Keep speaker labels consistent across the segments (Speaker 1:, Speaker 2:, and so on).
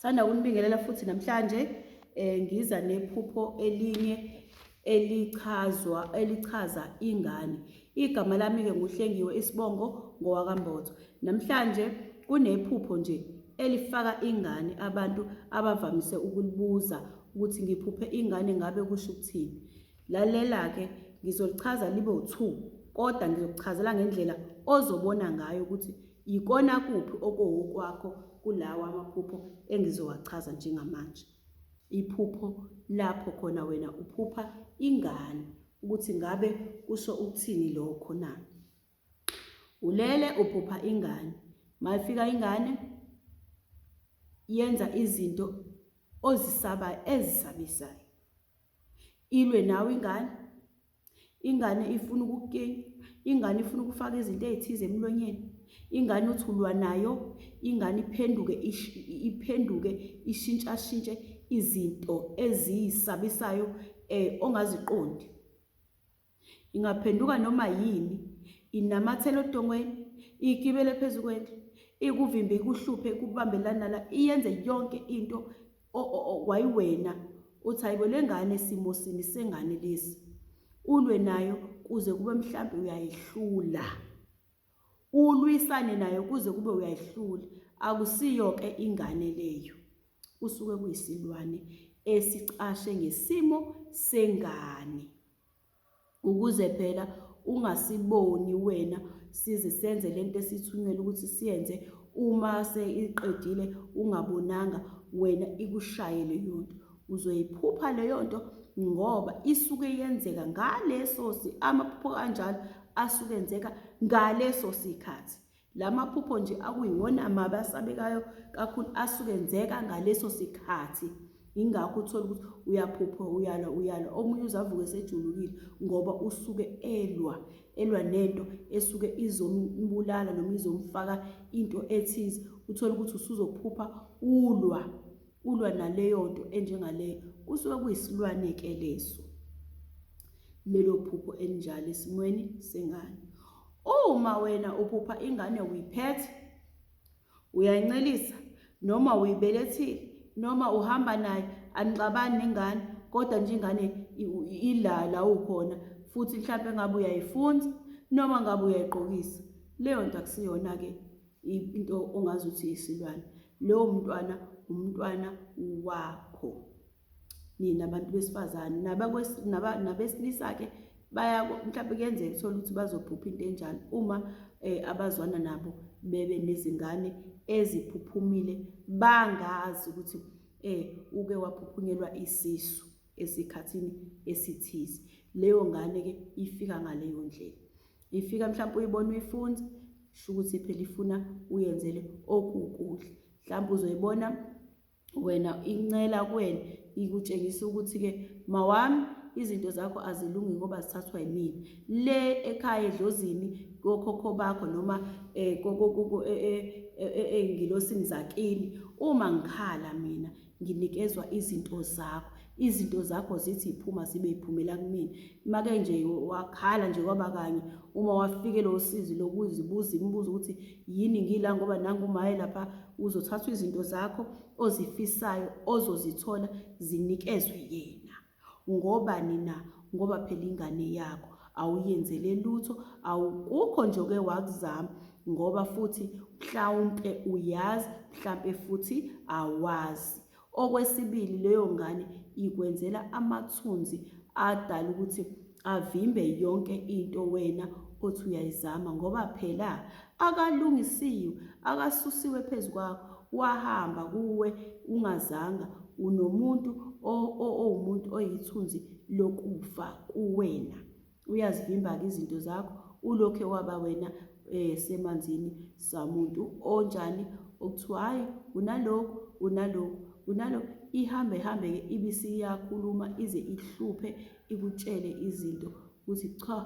Speaker 1: Sanda kunibingelela futhi namhlanje eh ngiza nephupho elinye elichazwa elichaza ingane. Igama lami ke nguhlengiwe isibongo ngowakambozo. Namhlanje kunephupho nje elifaka ingane abantu abavamise ukulibuza ukuthi ngiphuphe ingane ngabe kusho ukuthini. Lalela ke ngizolichaza libe u2 kodwa ngizokuchazela ngendlela ozobona ngayo ukuthi Yikona kuphi okowokwakho kulawa amaphupho engizowachaza njengamanje? Iphupho lapho khona wena uphupha ingane ukuthi ngabe kusho ukuthini lokho na? Ulele uphupha ingane. Mayifika ingane yenza izinto ozisabayo ezisabisayo. Ilwe nawe ingane Ingane ifuna ukukukenya, ingane ifuna ukufaka izinto ey'thize emlonyeni, ingane uthi ulwa nayo, ingane iphenduke iphenduke ishintshashintshe izinto eziyisabisayo um ongaziqondi. Ingaphenduka noma yini, inamathele odongweni, igibele phezu kwendlu, ikuvimbe ikuhluphe ikubambelana la, iyenze yonke into wayiwena uthi hayibo lengane simo sini sengane lesi ulwe nayo kuze kube mhlambe uyayihlula ulwisane nayo kuze kube uyayihlula akusiyo ke ingane leyo kusuke kuyisilwane esicashe ngesimo sengane ukuze phela ungasiboni wena size senze lento esithunyelwe ukuthi siyenze uma seyiqedile ungabonanga wena ikushaye leyo nto uzoyiphupha leyo nto ngoba isuke yenzeka ngaleso amaphupho kanjalo asuke enzeka ngaleso sikhathi La maphupho nje akuyiwona mabi asabekayo kakhulu asuke enzeka ngaleso sikhathi ingakho uthola ukuthi uyaphupha uyalwa uyalwa omunye uzavuka esejulukile ngoba usuke elwa elwa nento esuke izombulala noma izomfaka into ethize uthola ukuthi usuzophupha ulwa ulwa naleyo nto enjengaleyo kusuke kuyisilwane-ke leso lelo phupho elinjalo esimweni sengane Uma wena uphupha ingane uyiphethe, uyayincelisa noma uyibelethile noma uhamba naye anixabani nengane kodwa nje ingane ila la ukhona futhi mhlawumbe ngabe uyayifunza noma ngabe uyayigqokisa leyo nto akusiyona-ke into ongazi ukuthi isilwane lowo mntwana umntwana wakho nina abantu besifazane nabesilisa-ke baya mhlawumbe kuyenzeka uthole ukuthi bazophupha into enjalo uma um abazwana nabo bebe nezingane eziphuphumile bangazi ukuthi um uke waphuphunyelwa isisu esikhathini esithize leyo ngane-ke ifika ngaleyo ndlela ifika mhlawumpe uyibona uyifunza sho ukuthi phela ifuna uyenzele okukuhle mhlawumpe uzoyibona wena incela kuwena ikutshengisa ukuthi-ke mawami izinto zakho azilungi ngoba zithathwa yimina le ekhaya edlozini kokhokho bakho noma ey'ngilosini zakini uma ngikhala mina nginikezwa izinto zakho izinto zakho zithi yiphuma zibe yiphumela kumina make nje wakhala nje kwaba kanye uma wafikelwa usizi lokuzibuza imibuzo ukuthi yini ngila ngoba nangu umaye lapha uzothathwa izinto zakho ozifisayo ozozithola zinikezwe yena ngoba nina ngoba phela ingane yakho awuyenzele lutho awukukho nje oke wakuzama ngoba futhi mhlawumpe uyazi mhlampe futhi awazi Okwesibili leyo ngane ikwenzela amathunzi adala ukuthi avimbe yonke into wena othi uyayizama ngoba phela akalungisiwe akasusiwe phezu kwakho wahamba kuwe ungazanga unomuntu owumuntu oyithunzi lokufa kuwena uyazivimba-ke izinto zakho ulokhe waba wena eh, semanzini samuntu onjani okuthiwa hhayi unalokhu unalokhu unalokhu ihambe ihambe-ke ibisiyakhuluma ize ihluphe ikutshele izinto ukuthi cha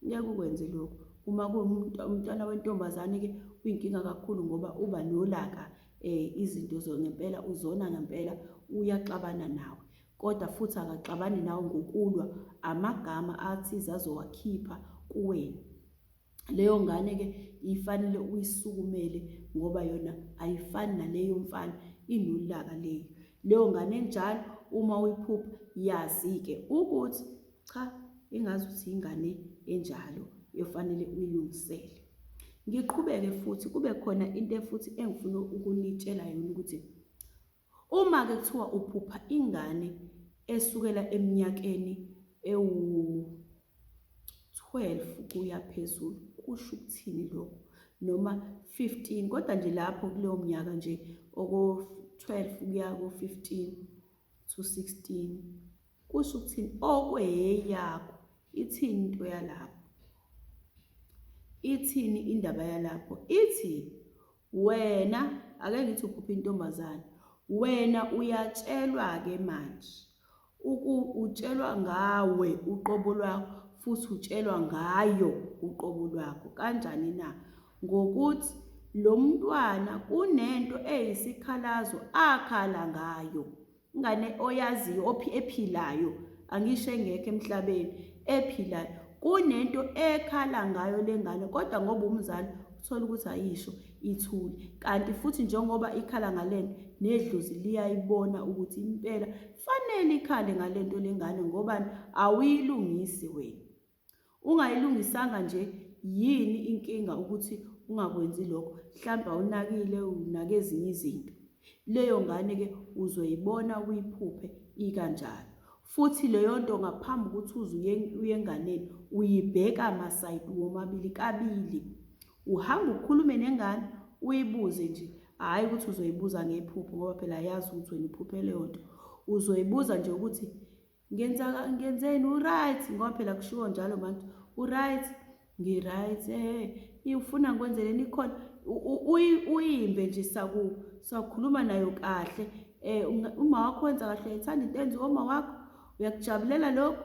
Speaker 1: ngeke ukwenze lokhu uma kuwumntwana wentombazane-ke uyinkinga kakhulu ngoba uba nolaka um izinto ngempela uzona ngempela uyaxabana nawe Kodwa futhi akaxabani nawe ngokulwa amagama athize azowakhipha kuwena. Leyo ngane ke ifanele uyisukumele ngoba yona ayifani naleyo mfana inolaka leyo. Leyo ngane enjalo uma uyiphupha yazi ke ukuthi cha ingazi ukuthi ingane enjalo efanele uyilungisele. Ngiqhubeke futhi kube khona into futhi engifuna ukunitshela yona ukuthi Uma ke kuthiwa uphupha ingane esukela eminyakeni ewu 12 kuya phezulu kusho ukuthini lokho noma 15 kodwa nje lapho kuleyo mnyaka nje oko 12 kuya ko 15 to 16 kusho ukuthini okweyakho ithini into yalapho ithini indaba yalapho ithi Wena ake ngithi uphupha intombazane wena uyatshelwa ke manje uku utshelwa ngawe uqobo lwakho futhi utshelwa ngayo uqobo lwakho kanjani na ngokuthi lo mntwana kunento eyisikhalazo akhala ngayo ingane oyaziyo ophi ephilayo angisho engekho emhlabeni ephilayo kunento ekhala ngayo lengane kodwa ngoba umzali uthola ukuthi ayisho ithule kanti futhi njengoba ikhala ngalento nedlozi liyayibona ukuthi impela fanele ikhale ngalento lengane ngoba awuyilungisi wena Ungayilungisanga nje yini inkinga ukuthi ungakwenzi lokho? Mhlampe awunakile unake ezinye izinto. Leyo ngane ke uzoyibona uyiphuphe ikanjalo. Futhi leyonto ngaphambi ukuthi uze uyenganeni uyibheka masayidi womabili kabili. Uhamba ukhulume nengane uyibuze nje hhayi ukuthi uzoyibuza ngephupho ngoba phela ayazi ukuthi wena uphuphe leyo nto. Uzoyibuza nje ukuthi ngenza ngenzeni uright ngoba phela kushiwo njalo manje uright ngi-right eh ufuna ngikwenzeleni ikhona uyimbe nje saku sakhuluma nayo kahle eh uma wakho wenza kahle uyayithanda into enziwa uma wakho uyakujabulela lokho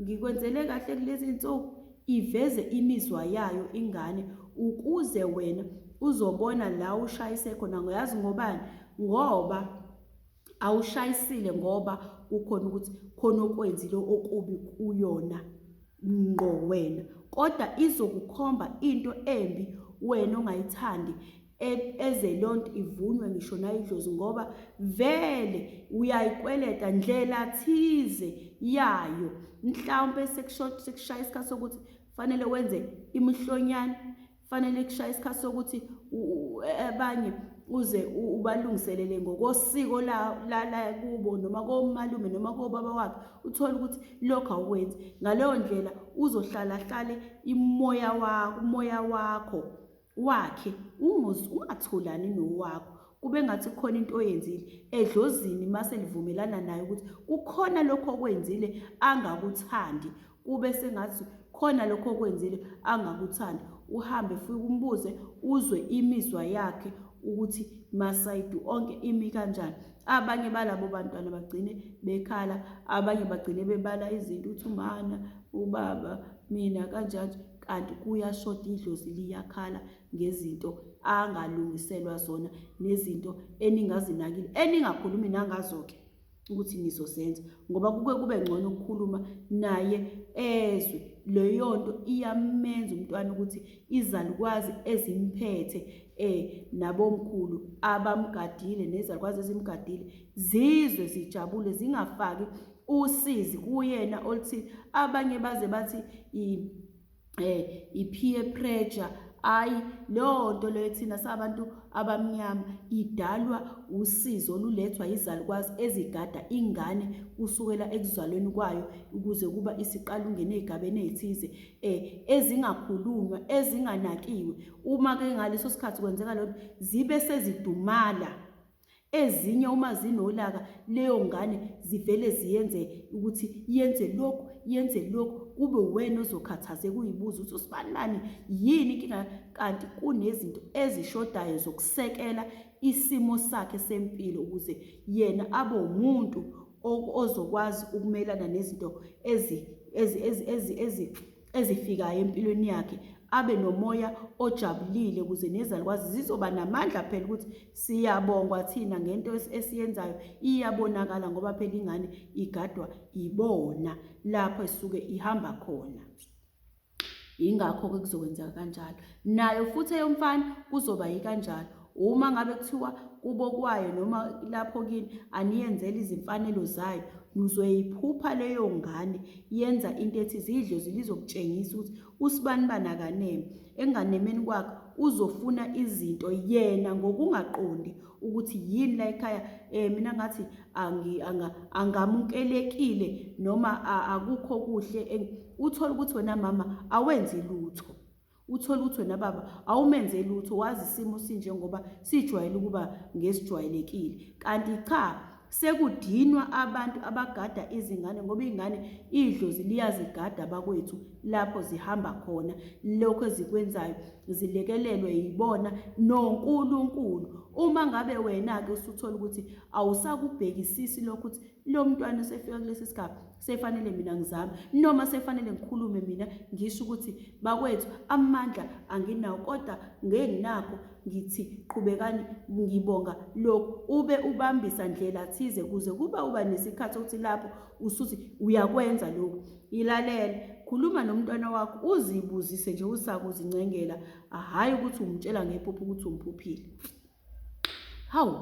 Speaker 1: ngikwenzele kahle kulezi nsuku iveze imizwa yayo ingane ukuze wena uzobona la ushayise khona ngoyazi ngobani ngoba awushayisile ngoba kukhona ukuthi khona okwenzile okubi kuyona ngqo wena kodwa izokukhomba into embi wena ongayithandi e-, eze leyo nto ivunywe ngisho nayidlozi ngoba vele uyayikweleta ndlela thize yayo mhlawumpe sekushaye isikhathi sokuthi kufanele wenze imihlonyana fanele kushaya isikhathi sokuthi abanye uze ubalungiselele ngokosiko la la kubo noma komalume noma kobaba wakhe uthola ukuthi lokho awukwenzi ngaleyo ndlela uzohlala hlale imoya wakho umoya wakho wakhe ungathulani nowakho kube ngathi kukhona into oyenzile edlozini mase livumelana naye ukuthi kukhona lokho okwenzile angakuthandi kube sengathi khona lokho okwenzile angakuthandi uhambe futhi umbuze uzwe imizwa yakhe ukuthi masayidi onke imi kanjani abanye balabo bantwana bagcine bekhala abanye bagcine bebala izinto uthi umana ubaba mina kanjani kanti kuyashoda idlozi liyakhala ngezinto angalungiselwa zona nezinto eningazinakile eningakhulumi nangazo-ke ukuthi nizozenza ngoba kuke kube ngcono ukukhuluma naye ezwe leyo nto iyamenza umntwana ukuthi izalukwazi ezimphethe eh nabomkhulu abamgadile nezalukwazi ezimgadile zizwe zijabule zingafaki usizi kuyena oluthi abanye baze bathi eh i-peer pressure hayi leyo nto leyo thina sabantu abamnyama idalwa usizo olulethwa yizalukwazi ezigada ingane kusukela ekuzalweni kwayo ukuze kuba isiqala ungene ey'gabeni ey'thize um ezingakhulunywa ezinganakiwe uma-ke ngaleso sikhathi kwenzeka loo nto zibe sezidumala Ezinye uma zinolaka leyo ngane zivele ziyenze ukuthi yenze lokhu yenze lokhu kube uwena ozokhathazeka uyibuza ukuthi usibanibani yini inkinga kanti kunezinto ezishodayo zokusekela isimo sakhe sempilo ukuze yena abe umuntu ozokwazi ukumelana nezinto ezi ezi ezi ezi ezi ezifikayo empilweni yakhe abe nomoya ojabulile ukuze nezalukwazi zizoba namandla phela ukuthi Siyabongwa thina ngento esiyenzayo iyabonakala ngoba phela ingane igadwa ibona lapho esuke ihamba khona. Ingakho-ke kuzokwenzeka kanjalo. Nayo futhi eyomfana kuzoba yikanjalo. Uma ngabe kuthiwa kubo kwayo noma lapho kini aniyenzela izimfanelo zayo nizoyiphupha leyo ngane yenza into ethi zidle zilizokutshengisa ukuthi usibani bani akaneme enganemeni kwakhe uzofuna izinto yena ngokungaqondi ukuthi yini la ekhaya um mina ngathi angamukelekile noma akukho kuhle uthole ukuthi wena mama awenzi lutho uthole ukuthi wena baba awumenze lutho wazi isimo sinjengoba sijwayele ukuba ngesijwayelekile kanti cha Sekudinwa abantu abagada izingane ngoba iy'ngane idlozi liyazigada bakwethu lapho zihamba khona. Lokhu ezikwenzayo zilekelelwe yibona noNkulunkulu. Uma ngabe wena-ke usuthola ukuthi awusakubhekisisi lokho ukuthi lo mntwana usefika kulesi sigaba, sefanele mina ngizame noma sefanele ngikhulume mina ngisho ukuthi bakwethu amandla anginawo kodwa ngenginakho ngithi qhubekani ngibonga lokhu ube ubambisa ndlela thize kuze kuba uba nesikhathi ukuthi lapho usuthi uyakwenza lokhu ilalele khuluma nomntwana wakho uzibuzise nje usakuzincengela hhayi ukuthi umtshela ngephupho ukuthi umphuphile hawu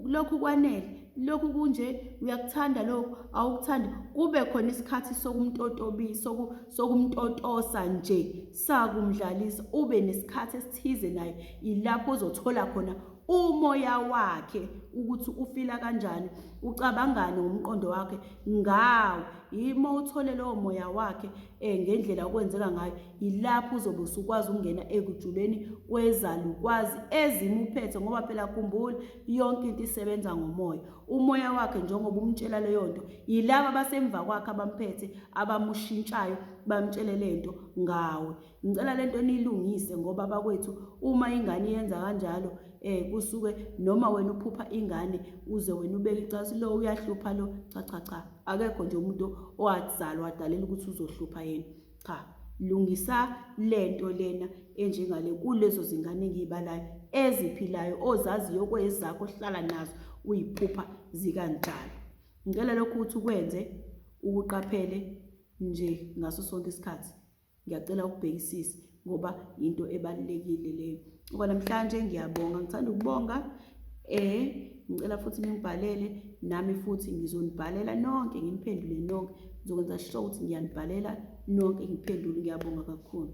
Speaker 1: lokhu kwanele lokhu kunje uyakuthanda lokhu awukuthandi kube khona isikhathi sokumtotobisa sokumtotosa nje sakumdlalisa ube nesikhathi esithize naye ilapho ozothola khona umoya wakhe ukuthi ufila kanjani ucabangani ngomqondo wakhe ngawo yimo uthole lowo moya wakhe eh ngendlela okwenzeka ngayo yilapho uzobe usukwazi ukungena ekujuleni kwezalukwazi ezimuphethe ngoba phela khumbula yonke into isebenza ngomoya umoya wakhe njengoba umtshela leyo nto yilaba abasemva kwakhe abamphethe abamushintshayo bamtshele le nto ngawe ngicela le nto niyilungise ngoba bakwethu uma ingane yenza kanjalo eh kusuke noma wena uphupha ingane uze wena ubeke icasi lo uyahlupha lo cha cha cha akekho nje umuntu owazalwa wadalela ukuthi uzohlupha yena cha lungisa lento lena enjengale kulezo zingane engiyibalayo eziphilayo ozaziyo kwezakho ohlala nazo uyiphupha zikanjalo ngicela lokhu ukuthi ukwenze ukuqaphele nje ngaso sonke isikhathi Ngiyacela ukubhekisisa ngoba yinto ebalulekile leyo. Okwanamhlanje ngiyabonga, ngithanda ukubonga eh ngicela futhi ningibhalele nami futhi ngizonibhalela nonke nginiphendule nonke ngizokwenza sure ukuthi ngiyanibhalela nonke ngiphendule ngiyabonga kakhulu.